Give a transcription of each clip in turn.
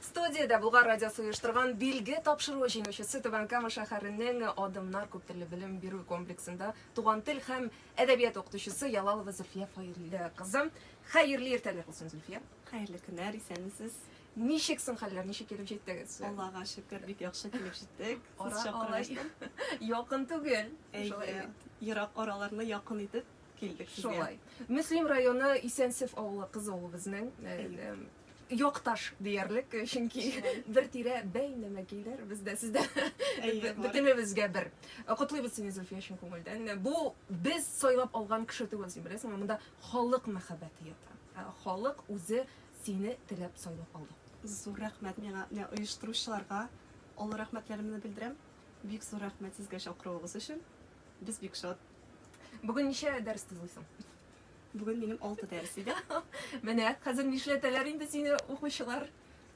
Студиядә Булгар радиосы оештырган билге тапшыруы җиңүчесе Түбән Кама шәһәренең Адымнар күптелле белем бирү комплексында туган тел һәм әдәбият укытучысы Ялалова Зөлфия Фаиле кызы. Хәерле иртәләр булсын, Зөлфия. Хәерле көннәр, исәнмесез. Ничек соң хәлләр, ничек килеп җиттегез? Аллага шөкер, бик яхшы килеп җиттек. Ара алай якын түгел. Әйе, ерак араларны якын итеп килдек сезгә. Шулай. Мөслим районы Исәнсев авылы кызы ул безнең. якташ диярлек, чөнки бер тирә бәйнә мәкилләр без дә сездә бөтенебезгә бер. Котлыйбыз сине Зөлфия чын күңелдән. Бу без сайлап алган кеше түгел син беләсеңме? Монда халык мәхәббәте ята. Ә халык үзе сине теләп сайлап алды. Зур рәхмәт миңа, менә оештыручыларга олы рәхмәтләремне белдерәм. Бик зур рәхмәт сезгә чакыруыгыз өчен. Без бик шат. Бүген ничә дәрес тыңлыйсың? Бүген минем алты дәрес иде. Менә хәзер нишләтәләр инде сине укучылар?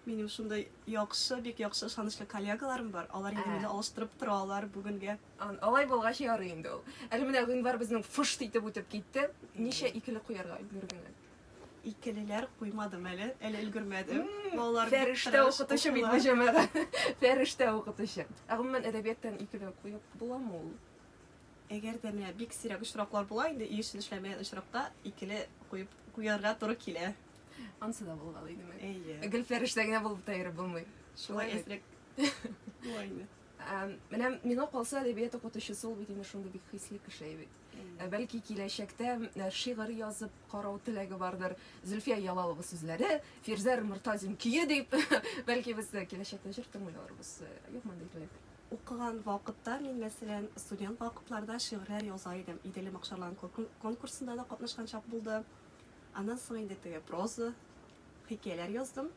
Минем шундай яхшы, бик яхшы ышанычлы коллегаларым бар. Алар инде мине алыштырып торалар бүгенгә. Алай булгач ярый инде ул. Әле менә гыйнвар безнең фыш итеп үтеп китте. Ничә икеле куярга өлгергән? Икелеләр куймадым әле, әле өлгермәдем. Балалар фәрештә укытучы бит бу җәмәгать. Фәрештә укытучы. Ә гомумән әдәбияттан икеле куеп буламы ул? Әгәр дә менә бик сирәк очраклар була инде, өй эшен эшләмәгән очракта икеле куеп куярга туры килә. Ансы да булган идеме? Әйе. Гел фәрештә генә булып та йөреп булмый. Шулай әзрәк. Була инде. Менә миңа калса әдәбият укытучысы ул бит инде шундый бик хисле кеше бит. Ә бәлки киләчәктә э, шигырь язып карау теләге бардыр. Зөлфия Ялалова сүзләре, Фирзәр Мортазин көе дип, бәлки без киләчәктә җыр тыңлый алырбыз. Э, юк мондай теләк. Укыган вакытта мин, мәсәлән, студент вакытларда шигырьләр яза идем. Идел Макшарлан конкурсында да катнашкан чак булды. Аннан соң инде теге проза, хикәяләр яздым.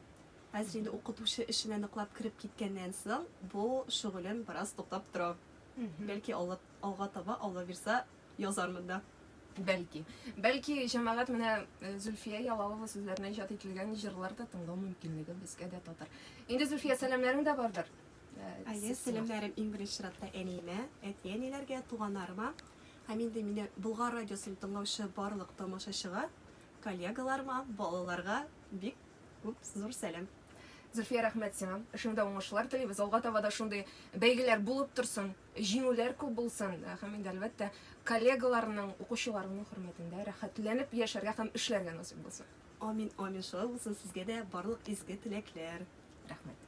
Хәзер инде укытучы эшенә ныклап кереп киткәннән соң, бу шөгылем бераз туктап тора. Бәлки алга, алга таба Алла бирса, язармын да. Бәлки. Бәлки, җәмәгать менә Зөлфия Ялалова сүзләренә иҗат ителгән җырлар да тыңлау мөмкинлеге безгә дә татыр. Инде, Зөлфия, сәламнәрең дә бардыр? Әйе, сәламнәрем иң беренче чиратта әниемә, әти-әниләргә, туганнарыма һәм инде мине Болгар радиосын тыңлаучы барлык тамашачыга, коллегаларыма, балаларга бик күп зур сәлам. Зөлфия, рәхмәт сиңа. Эшеңдә уңышлар телибез. Алга таба да шундый бәйгеләр булып торсын, җиңүләр күп булсын. Һәм инде әлбәттә, коллегаларның, укучыларның хөрмәтендә рәхәтләнеп яшәргә һәм эшләргә насыйп булсын. Амин амин шулай булсын сезгә дә барлык изге теләкләр. Рәхмәт.